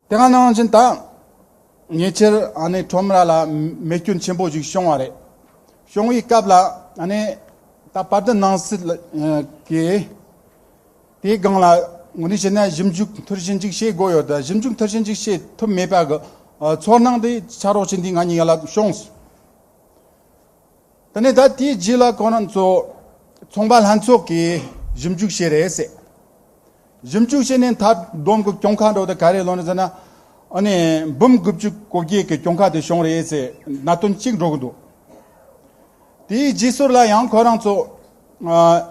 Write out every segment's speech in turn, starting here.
དེ་སྔ་ནང་བཞིན་ད་ཉེ་ཆར་ཁྲོམ་ར་ལ་མེ་སྐྱོན་ཆེན་པོ་ཞིག་བྱུང་བ་རེད། བྱུང་བའི་སྐབས་ལ་ད་བར་དུ་ནང་སྲིད་ཀྱིས་དེའི་སྒང་ལ་ངོས་འཛིན་བྱས་ན་ཞིབ་འཇུག་མཐིལ་ཕྱིན་ཅིག་བྱེད་དགོས་ཡོད། ཞིབ་འཇུག་མཐིལ་ཕྱིན་ཅིག་བྱེད་ཐུབ་མེད་པའི་ཚོར་སྣང་དེ་ཕྱག་རོགས་བྱེད་འདི་ང་གཉིས་ལ་བྱུང། ད་ནི་ད་ལྟའི་རྗེས་ལ་ཁོ་རང་ཚོ་ཚོང་པ་ལྷན་ཚོགས་ཀྱིས་ཞིབ་འཇུག་བྱས་རེད་ཟེར། ཞིབ་འཇུག་བྱས་ནས་མཐའ་བསྡོམས་ཀྱི་གྱོང་ཁ་འགྲོ་དེ་ག་རེ་ལོན་ཟེར་ན། ཨ་ནི་འབུམ་དགུ་བཅུ་གོ་བརྒྱད་ཀྱི་གྱོང་ཁ་དེ་བྱུང་རེད་ཟེར་གནད་དོན་གཅིག་འགྲོ་གི་འདུག་དེའི་རྗེས་སོར་ལ་ཡང་ཁོ་རང་ཚོ་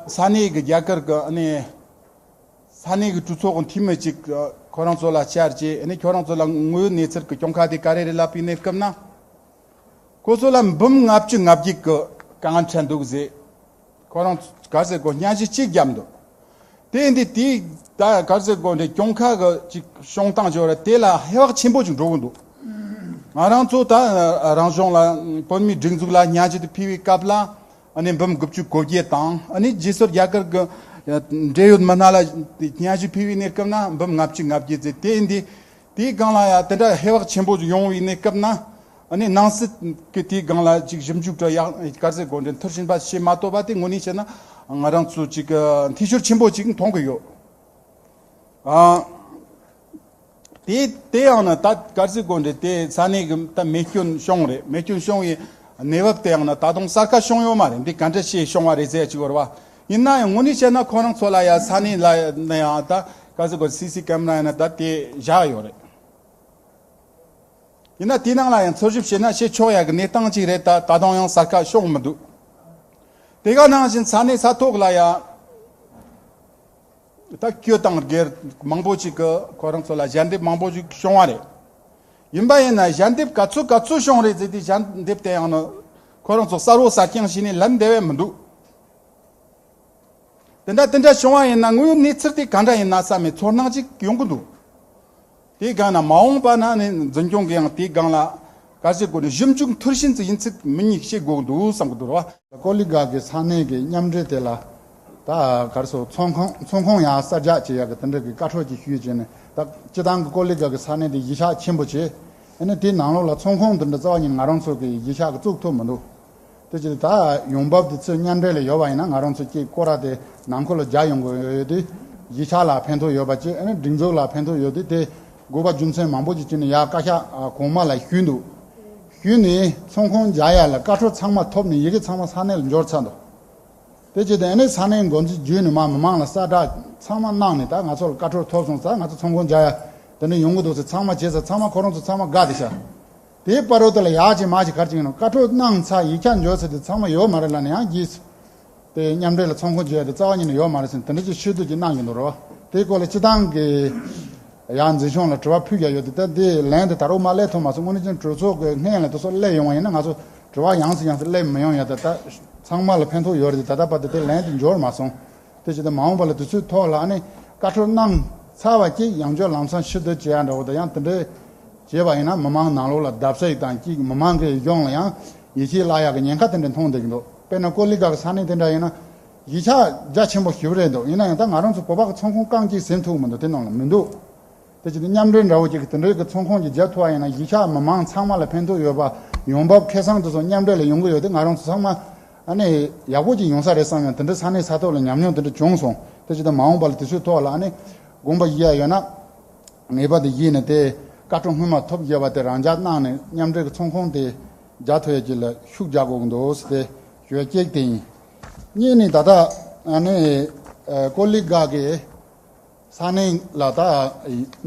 ས་གནས་ཀྱི་རྒྱ་གར་གྱི་ཨ་ནི་ས་གནས་ཀྱི་གྲོས་ཚོགས་ཀྱི་འཐུས་མི་ཅིག་ཁོ་རང་ཚོ་ལ་བཅར་རྗེས་ཨ་ནི་ཁྱོད་རང་ཚོ་ལ་དངོས་ཡོད་གནས་ཚུལ་གྱི་གྱོང་ཁ་དེ་ག་རེ་རེད་ལབ་པའི་གནས་སྐབས་ན། ཁོ་ཚོ་ལ་འབུམ་ལྔ་བཅུ་ལྔ་བརྒྱའི་གོས་གང་འཕྲད་འདུག་ཟེར། ཁོ་རང་ཚོས་གར་ཟེར་སྒོ་གཉའ་ཤིང་གཅིག་བརྒྱབ་འདུག་དེ་འདི་དེའི་ད་གར་ཟེར་སྒོ་འདྲེ་སྐྱོང་ཁག་གི་ཅིག་བྱུང་སྟངས་བྱུང་རེད་དེ་ལ་ཧེ་བག་ཆེན་པོ་ཅིག་འགྲོ་གི་འདུག་ང་རང་ཚོ་ད་རང་གཞུང་ལ་བོད་མིའི་སྒྲིག་འཛུགས་ལ་གཉའ་ཤིང་དེ་ཕུལ་བའི་སྐབས་ལ་ནི་འབུམ་དགུ་བཅུ་གོ་བརྒྱད་དང་ནི་རྗེས་སོར་རྒྱ་གར་གི་འབྲེལ་ཡོད་མི་སྣ་ལ་གཉའ་ཤིང་ཕུལ་བའི་གནས་སྐབས་ན་འབུམ་ལྔ་བཅུ་ལྔ་བརྒྱའི་ཟེར་དེ་འདི་དེའི་སྒང་ལ་ཡང་དེ་འདྲ་ཧེ་བག་ཆེན་པོ་ཡོང་བའི་གནས་སྐབས་ན། སྣང་སྲིད་ཀྱི་དེའི་སྒང་ལ་ཅིག་ཞིབ་འཇུག་སྒྲ་ཡག་དཀར་ཟས་དགོད་འདྲེན་མཐར་ཕྱིན་པ་ཞེས་མ་བཏོད་པ་དེ་དངོས་གནས་བཤད་ན་ང་རང་ཚོ་ཅིག་འཐུས་ཤོར་ཆེན་པོ་ཅིག་མཐོང་གི་ཡོད། དེ་དེ་ཡང་ན་ད་དཀར་ཟས་དགོད་འདྲེན་དེ་ས་གནས་ཀྱི་ད་མེ་སྐྱོན་བྱུང་རེད་མེ་སྐྱོན་བྱུང་བའི་གནས་བབ་དེ་ཡང་ན་ད་དུང་གསར་ཁ་བྱུང་ཡོད་མ་རེད་འདི་ག་འདྲ་ཞིག་བྱུང་བ་རེད་ཟས་ཅིག་བོར་བ་ཡིན་ན་ཡང་ངོ་ནས་བཤད་ན་ཁོ་རང་ཚོ་ལ་ཡང་ས་གནས་ལ་ཡང་ད་ག་ཚོད་དགོས་སི་སི་ཀེམ་ར་ཡང་ན་ད་དེ་བཞག་ཡོད་རེད། ཡིན་ན་དེའི་ནང་ལ་ཡང་འཚོལ་ཞིབ་བྱས་ན་ཤེས་ཆོག་ཡག་གི་གནས་སྟངས་གཅིག་རེད་ད་ད་དུང་ཡང་གསར་ཁ་ཤོག་མི་འདུག་དེ་ག་ནང་བཞིན་ས་གནས་ས་ཐོག་ལ་ཡང་ད་སྐྱོད་དང་སྒེར་མང་པོ་ཅིག་གི་ཁོ་རང་ཚོ་ལ་ཞལ་འདེབས་མང་པོ་ཞིག་བྱུང་བ་རེད། ཡིན་པ་ཡིན་ན་ཞལ་འདེབས་ག་ཚོད་ག་ཚོད་བྱུང་རེད་ཟེར་དེ་ཞལ་འདེབས་དེ་ཡང་ན་ཁོ་རང་ཚོ་གསར་བོ་གསར་རྐྱང་བྱས་ནས་ལབ་འདེད་བས་མི་འདུག་དེ་འདྲ་དེ་འདྲ་བྱུང་བ་ཡིན་ན་དངོས་ཡོད་གནས་ཚུལ་དེ་གང་འདྲ་ཡིན་ན་བསམ་མེད་ཚོར་སྣང་ཅིག་ཡོང་གི་འདུག་དེའི་སྒང་ན་མ་འོངས་པ་ན་ནི་འཛིན་སྐྱོང་གིས་ཡང་དེའི་སྒང་ལ་དཀའ་སྤྱད་སྒོ་ནས་ཞིབ་འཇུག་མཐུར་ཕྱིན་ཙི་ཡིན་ཚུལ་མི་ཉིད་ཤེས་དགོས་ཀྱི་འདུག་བསམ་གྱི་འདུག་རེད་བ། ཀོ་ལི་གྷ་གི་ས་གནས་ཀྱི་མཉམ་འབྲེལ་དེ་ལ་ད་གར་སོ་མཚོ་ཁང་མཚོ་ཁོངས་ཡང་གསར་རྒྱག་བྱེད་ཡག་གི་དེ་འདྲ་གི་བཀའ་ཁྲོལ་ཅིག་ཞུས་བྱས་ནས་ད་སྤྱི་བཏང་གི་ཀོ་ལི་གྷ་གི་ས་གནས་དེ་གཞི་ཆགས་ཆེན་པོ་བྱས་ཡིན་ན་དེའི་ནང་ལོགས་ལ་མཚོ་ཁོངས་དེ་འདྲ་རྩ་བ་ཉིད་ང་རང་ཚོ་གི་གཞི་ཆགས་གི་བཙུགས་ཐུབ་མི་འདུག། དེ་ཕྱིར་ད་ཡོང་འབབ་དེ་ཚོས་མཉམ་འབྲེལ་ལས་ཡོལ་བ་ཡིན་ན་ང་རང་ཚོ་སྐྱེས་སྐོ་ར་དེ་ནང་འཁོར་ལོ་བརྒྱ་ཡོང་དགོས་ཡོད་དུས། གཞིས་ཆགས་ལ་ཕན་ཐོགས་ཡོད་པ་བཅས་སྒྲིག་འཛུགས་ལ་ཕན་ཐོགས་ཡོད་དུས་དེ་དགོས་པ་རྒྱུ་མཚན་མང་པོ་ཞིག་བྱས་ནས་ཡར་བཀའ་ཤག་གོང་མ་ལ་ཞུས་འདུག་ཞུས་ནས་ཚོང་ཁང་བརྒྱ་ཡར་ལ་བཀའ་འཁྲོལ་ཚང་མ་ཐོབ་ནས་ཡི་གེ་ཚང་མ་ས་གནས་ལ་འབྱོར་ཚར་འདུག་དེ་བྱས་ཏེ་ས་གནས་འགོ་འཛིན་བརྒྱུད་ནས་མ་མི་མང་ལ་གསལ་བསྒྲགས་ཚང་མ་གནང་ནས་ད་ང་ཚོ་ལ་བཀའ་འཁྲོལ་ཐོབ་སོང་ཙང་ང་ཚོ་ཚོང་ཁང་བརྒྱ་ཡར་དེ་འདྲ་ཡོང་གི་འདུག་ཟེར་ཚང་མ་བྱས་ཙང་ཚང་མ་ཁོ་རང་ཚོ་ཚང་མ་དགའ་བདེ་ཤར། དེའི་དཔའ་རོལ་ཏོ་ལ་ཡག་ཅིང་མ་ཅིག་གར་ཅིག་ཡིན་ནོ་བཀའ་ཁྲོལ་གནང་ཚར་ཡིག་ཆ་འཇོག་ཚར་དུས་ཚང་མ་ཡོད་མ་རེད་ལ་ནི་ཡང་བགྱིས་ཚར་དེ་མཉམ་འབྲེལ་ལ་ཚོང་ཁང་བརྗེ་ཡ་དེ་རྩ་བ་ཉིད་ནས་ཡོད་མ་རེད་ཟེར་ནས་དེ་འདྲ་ཅིག་ཤོད་དུས་ཅིག་གནང་གི་འདུག་རོ་དེའི་སྐོར་ལ་སྤྱི་བཏང་གི་ཡང་འཛིན་སྐྱོང་ལ་དྲི་བ་ཕུལ་ཀྱང་ཡོད་དུས་ད་ལྟའི་ལན་དེ་ད་རུང་མ་གླས་ཐུབ་མ་སོང་སྔོན་ནས་ཅིང་གྲོས་ཚོགས་ཀྱི་སྔས་ལན་དུ་སོགས་གླས་ཡོང་བ་ཡིན་ན་ང་ཚོ་དྲི་བ་ཡང་སུ་ཡང་སུ་གླས་མི་ཡོང་ཡ་ད་ད་ཚང་མ་ལ་ཕན་ཐོག་ཡོད་རེད་དེ་ད་ལྟ་བར་དུ་དེ་ལན་དེ་འབྱོར་མ་སོང་དེ་བྱས་ཏེ་མ་འོངས་པ་ལ་དུས་ཚོད་ཐོག་ལ་ནི་བཀའ་འཁྲོལ་གནང་ཚར་བ་བཅས་ཡང་སྤྱོད་ལམ་སང་ཕྱི་བསྡུ་བྱས་ཡ་འདྲ་བོ་དང་ཡང་དེ་འདྲས་བྱས་པ་ཡིན་ན་མི་མང་ནང་ལོགས་ལ་བརྡབ་ས་ཡིག་དང་གཅིག་མི་མང་གི་གཞོང་ལ་ཡང་ཡིད་ཆེས་བརླག་ཡག་གི་ཉེན་ཁ་དེ་འདྲས་མཐོང་བསྡད་ཀྱི་འདུག་དཔེར་ན་ཀོ་ལི་གྷག་གི་ས་གནས་དེ་འདྲ་ཡིན་ན་གཞིས་ཆགས་རྒྱ་ཆེན་པོ་ཞིག་རེད་འདུག་ཡིན་ན་ཡང་ད་ང་རང་ཚོ་བོད་པ་གི་ཚོང་ཁོངས་རྐང་གཅིག་ཟིན་ཐུབ་མི་འདུག་དེ་ནང་ལ་མི་འདུག་དེ་བྱས་ཏེ་མཉམ་འབྲེལ་འདྲ་བོ་གཅིག་གི་དེ་འདྲས་ཀྱི་ཚོང་ཁོངས་ཀྱི་རྒྱ་མཐུ་བ་ཡིན་ན་གཞིས་ཆགས་མི་མང་ཚང་མ་ལ་ཕན་ཐོག་ཡོད་པ་ཡོང་འབབ་ཁེ་སང་དེ་ཚོ་མཉམ་འབྲེལ་ལ་ཡོང་གི་ཡོད་དེ་ང་རང་ཚོ་ཚང་མ་ཨ་ནི། ཡག་པོ་ཅིག་ཡོང་ས་རེད་བསམ་ཡང་དེ་འདྲ་ས་གནས་ས་ཐོག་ལ་ཉམས་མྱོང་དེ་འདྲ་བྱུང་སོང་སྟེ་ཇི་ལྟར་མ་འོངས་པ་ལ་དེ་ཚོའི་ཐོག་ལ་ཨ་ནི། དགོངས་པ་བཞེས་ཡ་ཡོད་ན། ངེས་པར་དུ་བཞེས་ནས་དེ། བཀའ་ཁྲོམ་སྔོན་མ་ཐོབ་རྒྱལ་བ་དེ་རང་འཇགས་གནང་ནས་མཉམ་འབྲེལ་གྱི་ཚོང་ཁོངས་དེ། རྒྱ་ཐོ་ཡ་གྱི་ལ་ཤུགས་རྒྱག་དགོས་ཀྱི་འདུག་ཟེར་ཏེ་གཞོལ་སྐྱེག་དེ་ཡིན། གཉིས་ནི་ད་ལྟ། ཨ་ནི། ཀོ་ལི་གྷག་གིས། ས་གནས་ལ་ད།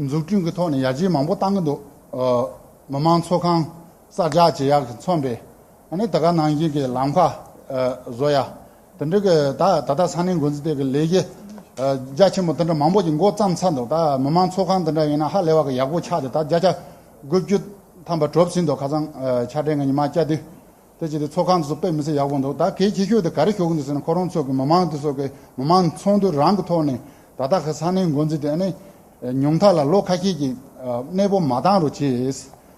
འཛུགས་སྐྲུན་གྱི་ཐོག་ནས་ཡར་རྒྱས་མང་པོ་བཏང་གི་འདུག། མི་དམངས་ཚོགས་ཁང་གསར་རྒྱག་བྱེད་ཡག་གི་མཚོན་པའི། ནི་ད་ག་ནང་བཞིན་གྱི་ལམ་ཁ་བཟོ་ཡ། དེ་འབྲེལ་གྱི་ད་ད་ལྟ་ས་གནས་འགོ་འཛིན་ཐད་ཀྱི་ལས་གཞི་རྒྱ་ཆེན་པོ་དེ་འདྲ་མང་པོ་ཞིག་མགོ་བརྩམས་ཚར་འདུག་ད་མི་དམངས་ཚོགས་ཁང་དེ་འདྲ་ཡིན་ན་ཧ་ལས་བ་གི་ཡག་པོ་ཆགས་ཏེ་ད་བརྒྱ་ཆ་དགུ་བཅུ་ཐམ་པ་གྲོབ་ཟིན་འདུག་ཁ་སང་ཆ་འཕྲིན་གྱི་ཉི་མ་སྐྱ་དུས་དེ་བྱས་ཏེ་ཚོགས་ཁང་དེ་ཚོ་དཔེ་མི་སྲིད་ཡག་པོ་འདུག་ད་གལ་ཆེ་ཤོས་དེ་ག་རེ་ཞུ་གི་འདུག་ཟེར་ན་ཁོ་རང་ཚོ་གི་མི་དམངས་དེ་ཚོ་གི་མི་དམངས་ཚོགས་འདུ་རང་གི་ཐོག་ནས་ད་ལྟ་གི་ས་གནས་འགོ་འཛིན་དེ་ནི་ཉུང་མཐའ་ལ་ལོ་ཁ་ཤས་ཀྱི་གནས་སྤོ་མ་བཏང་རུང་བྱས